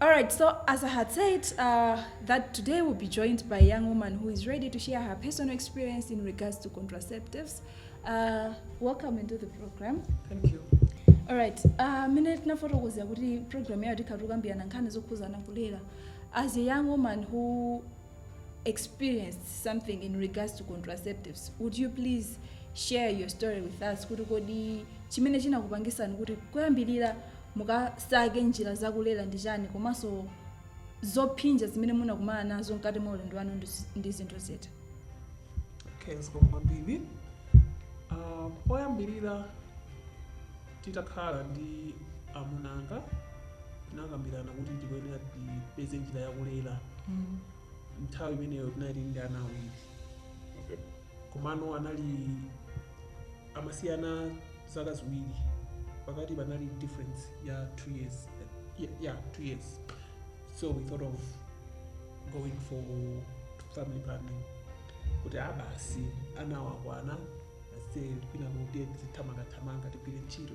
Alright, so as I had said, uh, that today we'll be joined by a young woman who is ready to share her personal experience in regards to contraceptives. Uh, welcome into the program. Thank you. Alright, uh, mine tinafotokoza kuti program yayo tikhatukambirana nkhani zokhuzana kulera. As a young woman who experienced something in regards to contraceptives, would you please share your story with us kuti kodi chimene chinakupangisani kuti kuyambirira mukasake njira zakulera ndi chani komanso zophinja zimene munakumana nazo mkati mwa ulendo wanu ndi zi- ndi zinthu ziti okay zikomo kwambiri Ah, poyambirira titakhala ndi amuna anga tinakambirana kuti tikuyenera tipeze njira yakulera nthawi imeneyo tinali ndi ana awiri komano anali amasiyana zaka ziwiri pakati panali difference ya 2 years yeah, yeah 2 years so we thought of going for family planning kuti abasi anawa akwana asi mwina kuti ndizithamangathamanga tigwire ntchito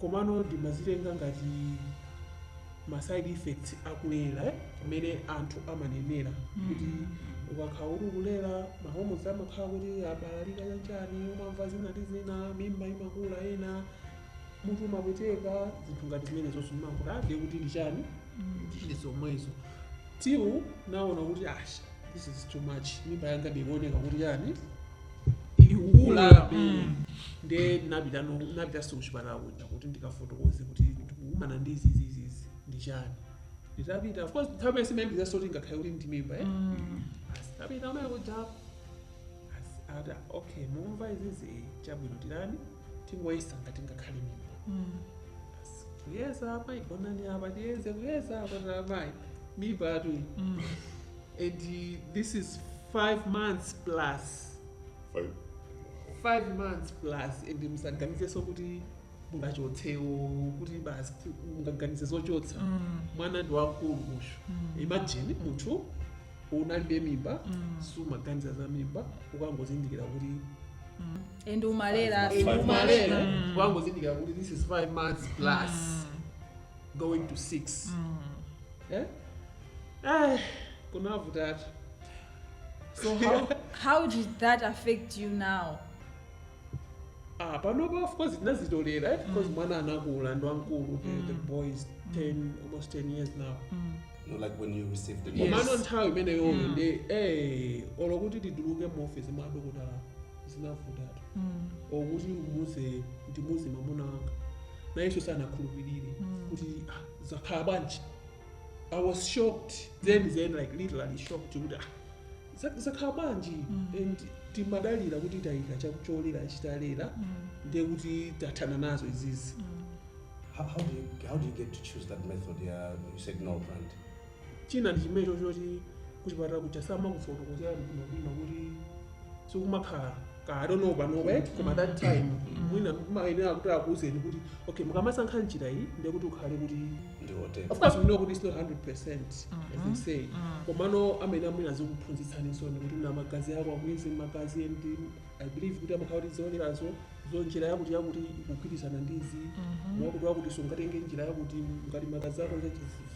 Komano ndimazitenga ngati ma side effects akulera eh? kumene anthu amanenera kuti ukakhala kuti ukulera ma hormones amakhala kuti abalalika chanchani umamva zina ndi zina mimba imakula ena mutu umapweteka zinthu ngati zimenezozo ndimakuti ah, ndiye kuti ndi chani ndi zomwezo till ndinaona kuti ash this is too much mimba yanga ikuoneka kuti chani Ikukula nde ndinapita ndinapitanso kuchipatala kuja kuti ndikafotokoze kuti ndikukumana ndi izi izi izi izi ndi chani nditapita of course nthawi imene sindimayembekezanso kuti ngakhale kuti ndi mimba eh Asi, tapita kumene kuja Asi, ata okay mukumva izizi eh, chabwino tiyeni tingoyeza ngati ingakhale mimba Asi, kuyeza apa gonani apa tiyeze kuyeza apa amayi mimbatu iyi And uh, this is five months plus. Five. Five months plus. And musaganizenso kuti mungachotsenso kuti basi mungaganize zochotsa mm. mwana ndi wamkulu musho mm. imagine munthu unalibe mimba mm. sumaganiza za mimba ukangozindikira kuti mm. and umalera umalera mm. ukangozindikira kuti this is five months plus mm. going to six mm. yeah? Ai, kunavutatu. So how How did that affect you now? ah panopa of course tinazitolera eh? because mwana anakula ndi wamkulu the, the boy is 10 almost 10 years now No, like when you received the news. komano nthawi imeneyoyo ndi eh olo kuti tituluke mu office mwa dokotala zinavutatu okuti ndimuze ndimuze mamuna wanga nayenso sanakhulupirire kuti ah, zakhala bwanji i was shocked then then like literally shocked kuti ah, za- zakhala bwanji and timadalira kuti tayika chake cholera chitilera ndiye kuti tathana nazo izizi How, how, do you, how do you get to choose that method? Yeah, you said no, brand. china ndi chimecho choti kuchipatala kuja samakufotokozera bwinobwino kuti sikumakhala ka i don't know panopa eti koma that time mwina amayenera kuti akuuzeni kuti okay mukamasankha njira iyi ndiye kuti ukhale kuti ndiwote of course we know kuti it's not 100 percent as they say komano amayenera mwina azikuphunzitsaninso ndi kuti na magazi ako amuyeze magazi and i believe kuti amakhala kuti zolerazo zo njira yakuti yakuti ikugwirizana ndizi mwakuti wakuti sungatenge njira yakuti ngati magazi ako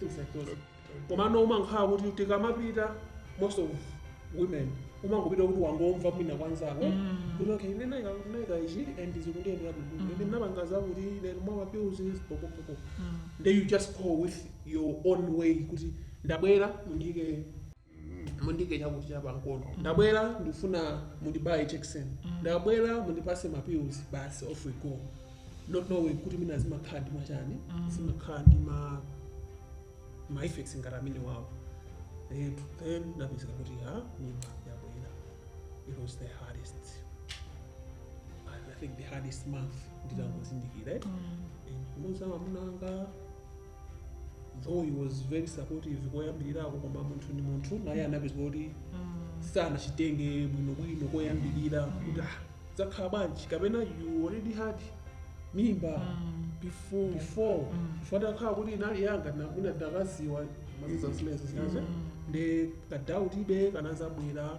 things like those komano umankhala kuti tikamapita most of women umangopita kuti wangomva mwina kwanzako Mm. kuti okay ine naika naika ichi and zikundiyendera bwino Mm. ine ndinapanga zakuti ine ndimwa mapills popopopo Mm. then you just go with your own way kuti ndabwera mundiike mundiike chakuti cha pamkono ndabwera ndikufuna mundibaye jakisoni ndabwera mundipase ma pills basi off we go not knowing kuti mwina zimakhala ndi machani zimakhala ndi ma ma effects ngati amenewawo Eh, then ndapezeka kuti ha mimba yabwera it was the hardest and i think the hardest month nditangozindikira eh. And kumuuza mamuna anga though he was very supportive koyambirirako koma munthu ndi munthu naye anapezeka kuti sanachitenge bwinobwino koyambirira kuti ah, zakhala bwanji kapena you already had mimba before before before atakhala kuti inali yanga mwina ndinakaziwa mazuza zimenezo zinazo nde ka doubt be kanazabwera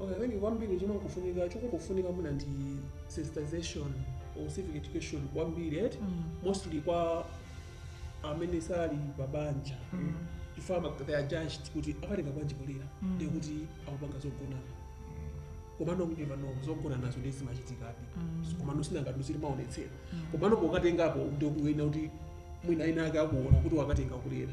Okay, I think kwambiri chomwe chikufunika chikufunika mwina ndi sensitization or civic education kwambiri eti Mm. mostly kwa amene sali pabanja Mm. chifukwa ama they are judged kuti akatenga bwanji kulera Mm. ndiye kuti akupanga zogonana komano you never know zogonanazo nde zimachitikabe Mm. komano sinanga sitimaonetsera Mm. komano pokatengapo ndikuona kuti mwina enaake akuona kuti wakatenga kulera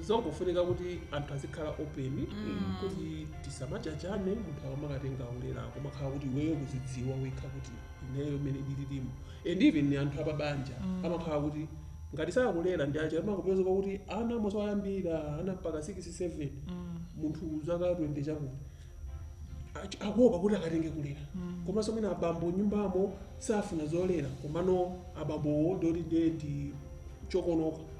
zikufunika kuti anthu azikhala open kuti tisamajajane munthu akamakatenga ulera kumakhala kuti iweyo kuzidziwa wekha kuti ineyo mmene ndililimu and even ni anthu apabanja amakhala kuti ngati sakulera ndi aja amakapezeka kuti ana moso ayambira ana mpaka 6 7 munthu zaka 20 chakuti Ach- akuopa kuti akatenge kulera komanso mwina abambo nyumbamo safuna zolera komano abambowo ndoti ndiye ndi chokonoka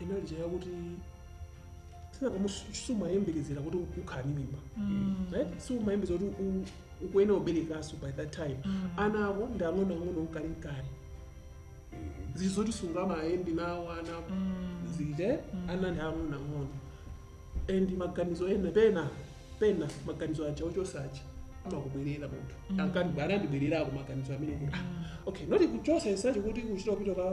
inali cha yakuti sinanga sumayembekezera kuti ukhala ndi mimba right sumayembekezera kuti u- ukuyenera uberekaso by that time ana ako ndi ang'onoang'ono ukali mkali zinthu zoti sungamayende nawo ana ako zite ana ndi ang'onoang'ono and maganizo ena pena pena maganizo aja ochosa aja amakubwerera munthu ankandibwererako maganizo amene kuti ah, okay noti kuchosa isacho kuti kuchita kupita ka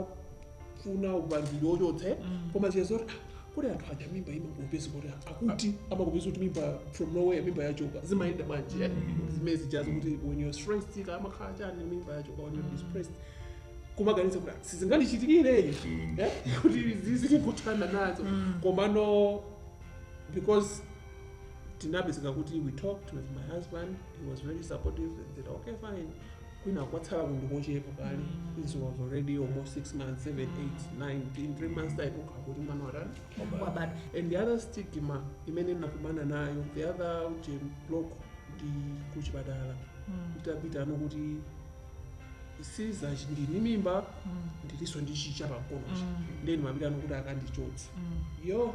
funa upangiri ochotse koma ziya zoti "Ah, kodi anthu aja mimba imangopeza kuti akuti amangopeza kuti mimba from nowhere mimba yachoka zimayenda manje eh? zimene zija zo kuti when you're stressed ka amakhala chani mimba yachoka when you're depressed kumaganiza kuti "Ah, sizingandichitikire eh? kuti zizikuthana nazo komano because tinapezeka kuti we talked with my husband he was very supportive and said okay fine kwina kwatsala kanthu kochepa kale it was already almost six months seven eight nine in three months time ukhala kuti mwana watani wabadwa and the other stigma imene nakumana nayo the other uja block ndi kuchipatala nditapitano kuti Sister ndili ndi mimba ndilinso ndi cha pamkonochi nde ndimapitano kuti akandichotse yo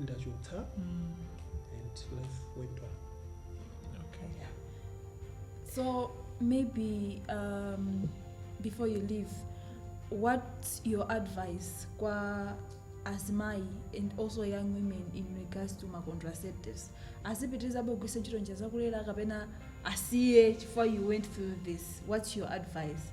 andichotsa and life went on Okay. So maybe um, before you leave, what's your advice kwa azimai and also young women in regards to ma contraceptives? Azipitiriza kugwiritsa ntchito njira zakulera kapena asiye chifukwa you went through this. What's your advice?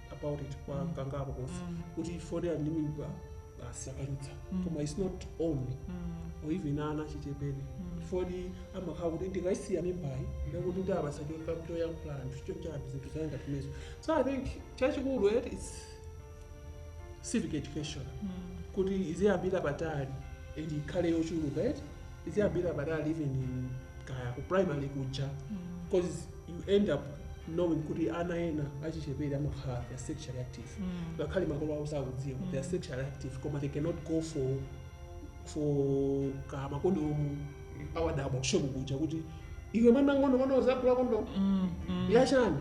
about it kwa Mm. kangapo konse Mm. kuti for ya mimba basi akanditsa Mm. koma its not only Mm. or even ana achichepere Mm. fodi amakhala kuti ndikayisiya mimbayi ndakuti ndabasa choyankhula anthu chochani zinthu zangati zimenezo so i think chachikulu et its civic education Mm. kuti iziyambira patali and ikhale yochuluka et Iziyambira patali even in kaya ku primary kuja? Because you end up knowing kuti ana ena achichepere amakhala they are sexually active. Ngakhale makolo awo sakudziwa they are sexually active koma they cannot go for for ka makondomu awadabwa ku shopu kuja kuti iwe mwana wamng'ono mwana uzagula kondomu yachani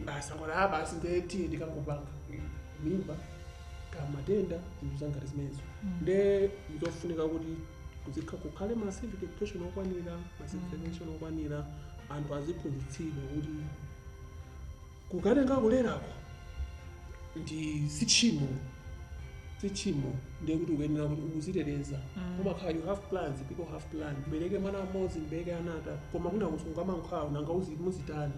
basi akwala basi nde kuti ndikangopanga mimba kaya matenda zinthu zangati zimenezo nde nzofunika kuti kuzikha kukhale ma civic education okwanira ma civic education okwanira anthu aziphunzitsidwa kuti kukatenga kulerako ndi si tchimo si tchimo ndiye kuti ukuyenera kuti ukuziteteza Mm. umakhala you have plans people have plans mbereke mwana mmodzi mbereke anatatu koma kuna kusunga mankhwawo nanga uzi- muzitani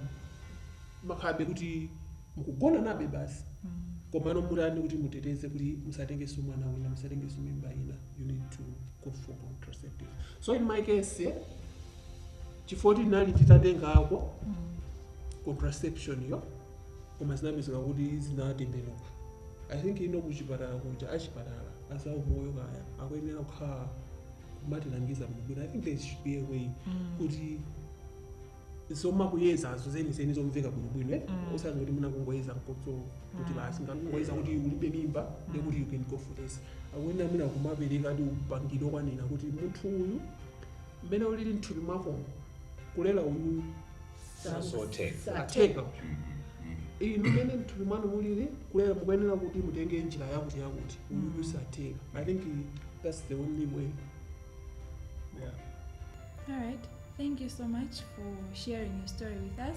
mukhalabe kuti mukugona nayebe basi Mm. komano mutani kuti muteteze kuti musatengeso mwana wina musatengeso mimba ina you need to go for contraceptive so in my case eh, chifukwa kuti ndinali nditatengako contraception yo koma zinapezeka kuti zinatembenuka i think ino kuchipatala kuja achipatala azaumoyo kaya akuyenera kukhala kumatilangiza bwinobwino i think there should be a way kuti zomakuyezazo zenizeni zomveka bwinobwino eh? Mm. osati kuti mwina kungoyeza mkodzo kuti basi ngati kungoyeza kuti ulibe mimba ndiye kuti you can go for this akuyenera mwina kumapereka ndi upangiri wokwanira kuti munthu uyu mmene ulili mthupi mwakomo kulera uyu satheka inu mmene mthupi mwanu mulili kulera mukuyenera kuti mutenge njira yakuti yakuti uyu satheka i think that's the only way yeah. All right. Thank you so much for sharing your story with us.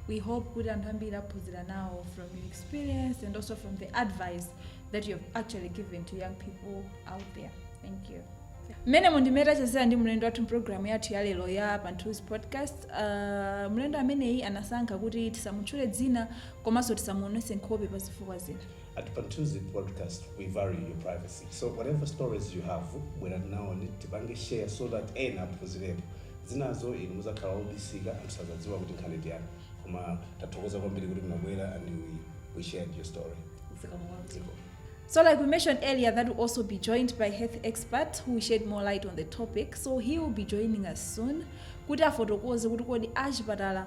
We hope kuti anthu ambiri aphunzira nawo from your experience and also from the advice that you have actually given to young people out there. Thank you. mmenemu ndi mmene tachezera ndi mlendo wathu mpulogalamu yathu ya lero ya Pamthunzi podcast uh, mlendo ameneyi anasankha kuti tisamutchule dzina komanso tisamuonese nkhope pa zifukwa zina At Pamthunzi Podcast we value your privacy so whatever stories you have bwerani nawo tipange share so that ena aphunzirepo zinazo inu muzakhala obisika anthu sazadziwa kuti nkhani ndi yanu koma tathokoza kwambiri kuti munabwera and we, we shared your story Ziko. So, like we mentioned earlier, that will also be joined by health expert who will shed more light on the topic. So, he will be joining us soon. Kuti afotokoze kuti kodi achipatala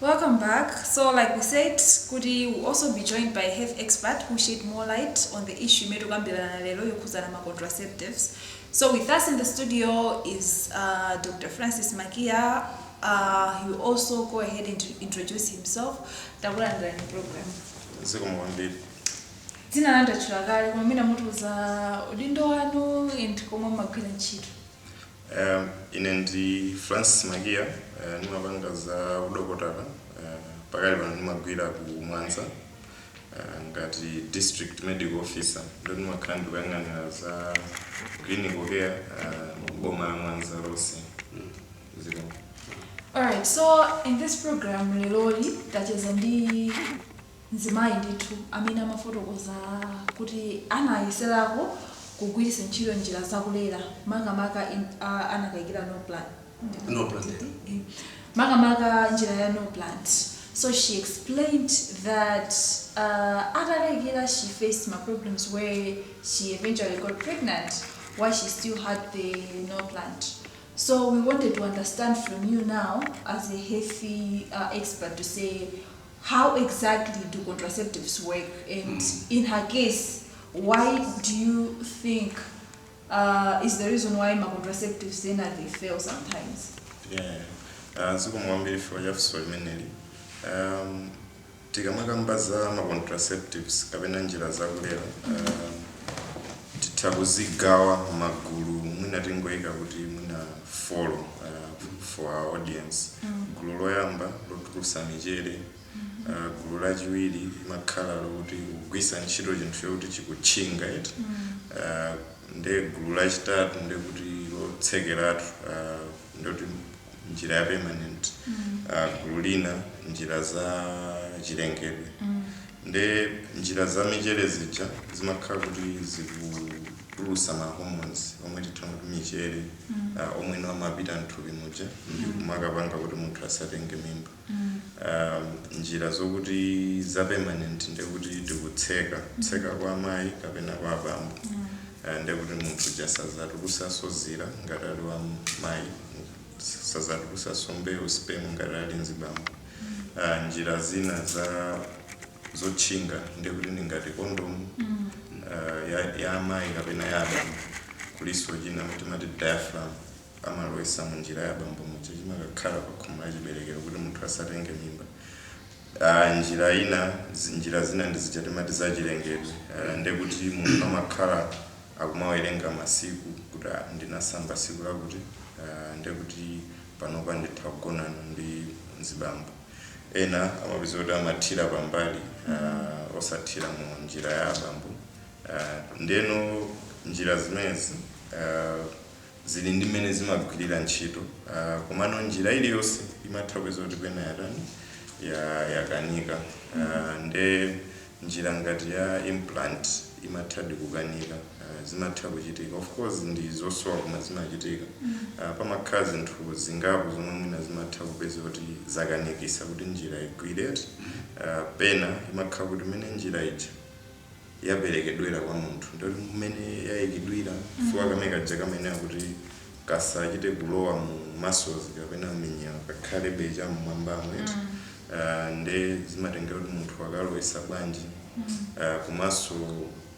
Welcome back, so like we said kuti will also be joined by a health expert who'll shed more light on the issue imene tikukambirana lero yokhudzana ma contraceptives. So with us in the studio is uh, Dr. Francis Makiya. Uh, he will also go ahead and introduce himself. Takulandirani mu program. zikomo kwambiri Dzina lanu ndatchula kale koma mwina mutiuza udindo wanu and komwe mumagwira ntchito. Um ine ndi Francis Makiya uh, ndimapanga za udokotala uh, pakali pano ndimagwira ku Mwanza uh, ngati district medical officer nde ndimakhala ndikuyang'anira za clinical care uh, boma la Mwanza lonse ziko Alright, so in this program leroli tacheza ndi mzimayi ndithu amene amafotokoza kuti anayeserako kugwiritsa ntchito njira za kulera makamaka anakaikira Norplant makamaka njira ya Norplant so she explained that atakaikira she faced ma problems where she eventually got pregnant while she still had the Norplant so we wanted to understand from you now as a health expert to say how exactly do contraceptives work and in her case why do you think uh, is the reason why ma contraceptives ena they fail sometimes yeah. uh, zikomo kwambiri chifukwa cha funso limeneli um, tikamakamba za ma contraceptives kapena njira zakulera um, titha kuzigawa magulu mwina tingoyika kuti mwina follow uh, for our audience gulu loyamba lotulusa michere uh, gulu lachiwiri limakhala lokuti kugwisa ntchito chinthu chokuti chikutchinga eti uh, nde gulu lachitatu ndekuti lotsekeratu uh, ndoti njira ya permanent uh, gulu lina njira za chilengedwe Nde njira za michere zija zimakhala kuti zikutulusa ma hormones omwe titha kuti michere ah, omweno amapita mthupi muja ndikumakapanga kuti munthu asatenge mimba um, njira zokuti za permanent ndekuti tikutseka kwa amayi kapena kwa abambo Ah, ndekuti munthu uja sazatulusaso zira ngati ali wa mayi sazatulusaso mbewu sperm ngati ali mzibambo uh, njira zina za zotchinga ndiye kuti ndi ngati kondomu uh, ya, ya amayi kapena ya abambo kulinso china timati diaphragm amalowetsa mu njira ya abambo muja chimakakhala pa khomo la chiberekero kuti munthu asatenge mimba Ah, njira ina zi- njira zina ndi zija timati za chilengedwe Ah, ndiye kuti munthu amakhala akumawerenga masiku kuti ah, ndinasamba siku lakuti ah, ndiye kuti panopa nditha kugonana ndi mzibambo. Ena amapeza kuti amathira pambali uh, osathira mu njira ya abambo uh, ndeno njira zimenezi uh, zili ndi mmene zimagwirira ntchito uh, komano njira iliyonse imatha kupeza kuti pena yatani ya- yakanika uh, nde njira ngati ya implant imathadi kukanika uh, zimatha kuchitika of course ndi zosowa koma zimachitika uh, pamakhala zinthu zingapo zomwe mwina zimatha kupeza kuti zakanikisa kuti njira igwire eti uh, pena imakhala kuti mmene njira ija yaperekedwera kwa munthu ndoti mmene yayikidwira chifukwa kamene kaja kamayenera kuti kasachite kulowa mu muscles kapena m'minyewa kakhalebe cha mmwambamo eti mm. uh, nde zimatengera kuti munthu wakalowetsa bwanji mm. uh, komanso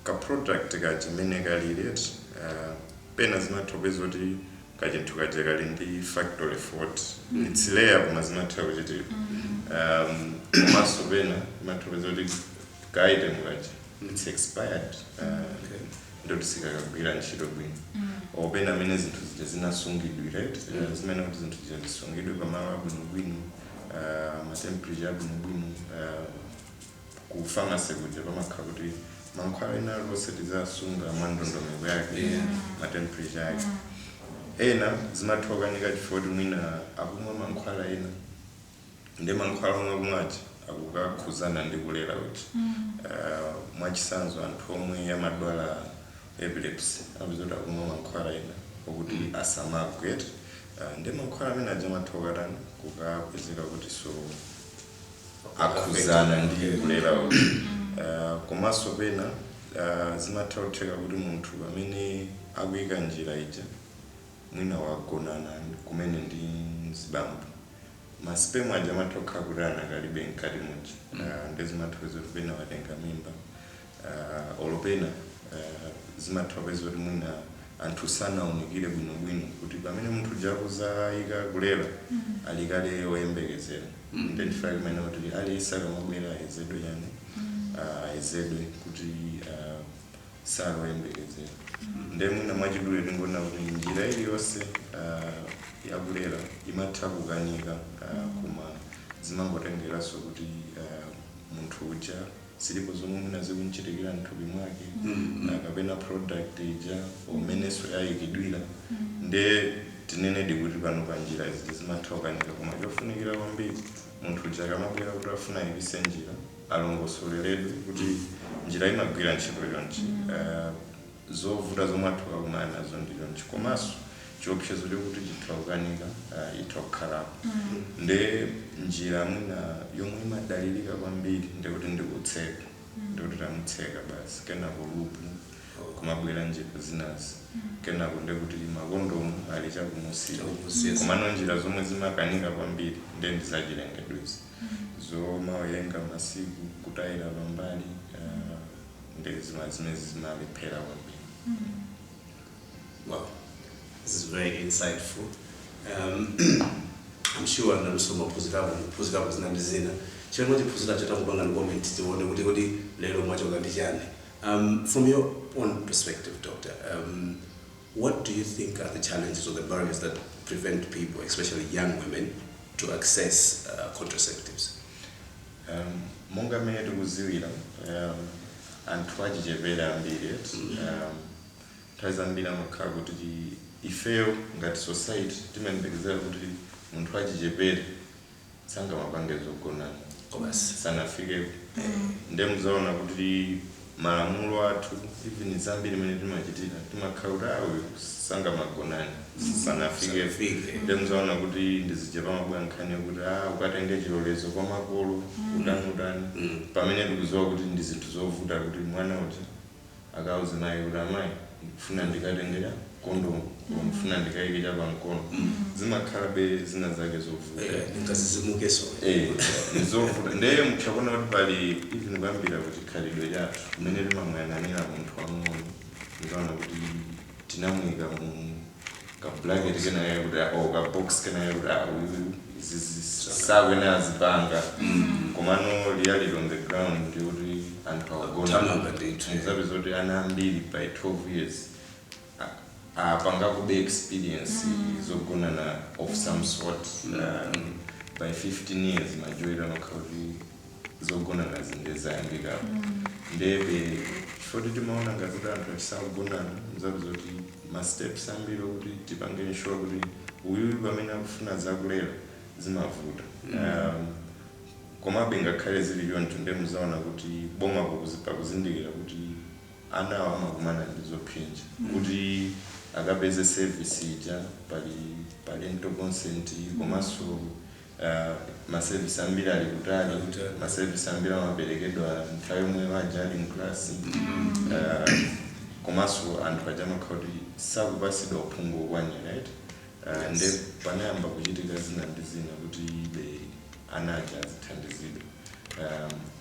ka product kachimene kalili eti uh, pena zimatha kupeza kuti kachinthu kaja kali ndi factory fault mm. it's rare koma zimatha kuchitika mm. um, komanso pena zimatha kupeza kuti ka item kaja it's expired uh, okay. ndoti sikakagwira ntchito bwino apena mmene zinthu zija zinasungidwira eti, eh, zimayenera kuti zinthu zija zisungidwe pamalo abwinobwino ah, matemperature abwinobwino ah, ku pharmacy kuja pamakhala kuti mankhwala ena aliwonse tiziwasunga mwa ndondomeko yake matemperature yake ena zimathokanika chifukwa kuti mwina akumwa mankhwala ena ndi mankhwala omwe akumwa aja akukakhuzana ndi kulera uja uh, mwachitsanzo anthu omwe amadwala epilepsy upeza kuti akumwa mankhwala ena okuti asamagwe eti uh, ndi mankhwala amene aja amatha kukatani kukapezeka kuti so akhuzana ndi kulera uja uh, komanso pena uh, zimatha kutheka kuti munthu amene akuyika njira ija mwina wagonana kumene ndi mzibambo ma sperm aja amatha kukhala kuti akadalipo mkati muja Mm. uh, nde zimatha kupeza kuti pena watenga mimba uh, olo pena uh, zimatha kupeza kuti mwina anthu sanaunikire bwinobwino kuti pamene munthu uja akuzayika kulera ali kale oyembekezera Mm. nde timafuna kumene kuti aliyense akamabwera ayezedwe chani uh, ayezedwe kuti uh, sali oyembekezera nde mwina mwachidule tingonena kuti njira iliyonse uh, yakulera imatha kukanika uh, koma zimangotengeranso kuti uh, munthu uja zilipo zomwe mwina zikumchitikira mthupi mwake mm-hmm. uh, kapena product ija mmenenso yayikidwira mm-hmm. nde tinenedi kuti pano pa njira izi zimatha kukanika koma chofunikira kwambiri munthu uja akamabwera kuti akufuna ayikitse njira alongosoleredwe kuti njira imagwira ntchito chonchi, uh, zovuta zomwe atha kukakumana nazo ndi chonchi komanso chiopsezo chokuti chitha kukanika uh, itha kukhalapo mm. nde njira mwina yomwe imadalirika kwambiri ndekuti ndikutseka mm. ndekuti tamutseka basi kenako lupu kumabwera njira zinazi mm. kenako ndekuti makondomu ali chakumunsiko komano njira zomwe zimakanika kwambiri nde ndizachilengedwezi zomawerenga masiku kutayira pambali uh, nde zima- zimezi zimalephera kwambiri Wow, this is very insightful. Um, I'm sure nanunso mwaphunzirapo kuphunzirapo zina ndi zina. Chimene mwachiphunziracho tapangani comment tione kuti kodi lero mwachoka ndi chani. Um, from your own perspective, doctor, um, What do you think are the challenges or the barriers that prevent people, especially young women, to access uh, contraceptives? Um, monga mmene tikudziwira um, anthu achichepere ambiri eti, um, nthawi zambiri amakhala kuti ifeyo ngati society timayembekezera kuti munthu wachichepere sangamapange zogonana sanafikepo nde muzaona kuti malamulo athu even zambiri mmene timachitira timakhala kuti "Ah, uyu sangamagonane sanafikepo Sanafike. nde muzaona kuti ndi zija pamabwera nkhani yokuti "Ah, ukatenge chilolezo kwa makolo utani utani pamene tikuziwa kuti ndi zinthu zovuta kuti mwana uja akauze mayi kuti amayi ndikufuna ndikatenge kondomu koma ndikufuna ndikayike cha pamkono zimakhala be zina zake zovuta Eh, ndingazizimukeso Eh, ndizovuta ndeye mutha kuona kuti pali even kuyambira ku chikhalidwe chathu mmene timamuyang'anira munthu wamng'ono ndikaona kuti tinamuika mu ka blanket kenakake kuti ah, or ka box kenakake kuti ah, uyu izizi sakuyenera azipanga komano reality on the ground ndi kuti anthu akugonana ndithu. mzapeza zoti ana ambiri by 12 years a- apanga kube experience zogonana of some sort um, by 15 years majority amakhala kuti zogonanazi nde zayambikapo ndebe chifoti timaona ngati kuti anthu oti sakugonana mzapeza kuti ma steps ambiri okuti tipange ensure kuti uyuyu pamene akufuna zakulera zimavuta um, komabe ngakhale zili choncho nde muzaona kuti boma pakuzi- pakuzindikira kuti anawo amakumana ndi zophinja kuti akapeze service ija pa parental consent komanso Ma service ambiri ali kutali, ma service ambiri amaperekedwa nthawi yomwe aja ali mu class. Komanso anthu aja amakhala kuti sakupasidwa uphungu okwanira eti. Nde panayamba kuchitika zina ndi zina kuti be ana aja azithandizidwa.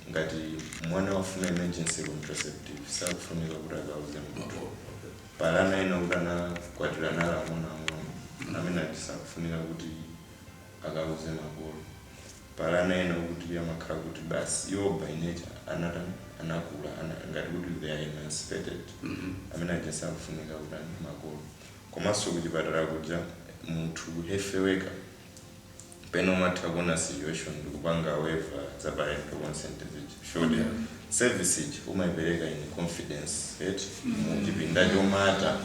Ngati mwana wafuna emergency contraceptive sakufunika kuti akauze munthu. Pali ana ena okuti anakwatira ali ang'onoang'ono amene aja sakufunika kuti. akauze makolo pali ana ena okuti amakhala kuti basi iwo by nature anatani anakula ana, ngati kuti they are emancipated amene aja sakufunika kutani makolo komanso kuchipatala kuja munthu health worker pena amatha kuona situation ndikupanga waiver za parental consent zija. Sure service ija umaipereka in confidence eti muchipinda chomata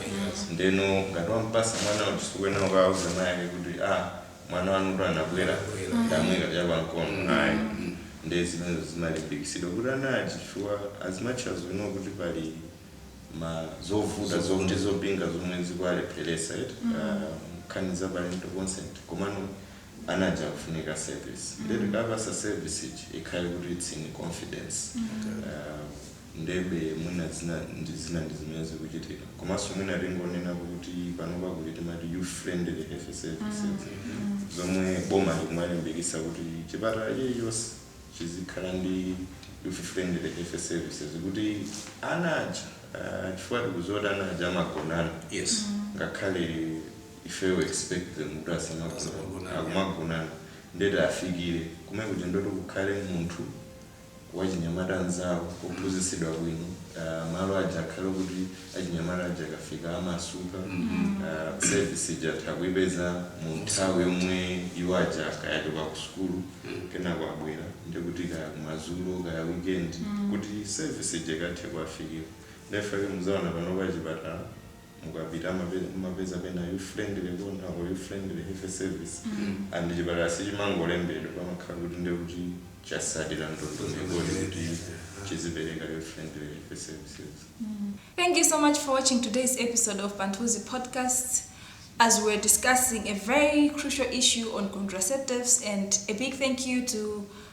ndeno ngati wampasa mwana uja sukuyenera ukauza mai ake kuti a mwana wanu kuti anabwera ndamwika chapamkono ayi nde zimenezo zimalimbikitsidwa kuti ana aja chifukwa as much as we know kuti pali ma zovuta ndi zopinga zomwe zikuwalepheresa eti ah, nkhani za parental consent komano anaja akufunika service mm. nde tikawapasa service iji ikhale kuti it's in confidence mm. um, ndebe mwina zina ndi zina ndi zimene zikuchitika komanso mwina tingonena kuti panopa kuti timati youth friendly health services mm. mm. zomwe boma likumalimbikisa kuti chipatala chilichonse chizikhala ndi youth friendly health services kuti ana aja uh, chifukwa tikuziwa kuti ana aja amagonana yes. mm. ngakhale ifeyo we expect them kuti asamagonane akumagonana ndiye tiwafikire kumene kuja ndoti kukhale munthu wachinyamata mnzawo wophunzitsidwa bwino ah, malo aja akhale kuti achinyamata aja akafika amasuka ah, service ija atha kuipeza mu nthawi yomwe iwo aja kaya achoka ku sukulu kenako abwera ndiye kuti kaya kumadzulo kaya weekend kuti service ija ikathe kuwafikira nde ifike muzaona pano pa chipatala mukapita amapeza mumapeza pena youth friendly corner or youth friendly health service and chipatala sichimangolembedwa pamakhala kuti ndiye kuti chatsatira ndondomeko yoti kuti chizipereka youth friendly health services Thank you so much for watching today's episode of Pamthunzi Podcast. As we're discussing a very crucial issue on contraceptives, and a big thank you to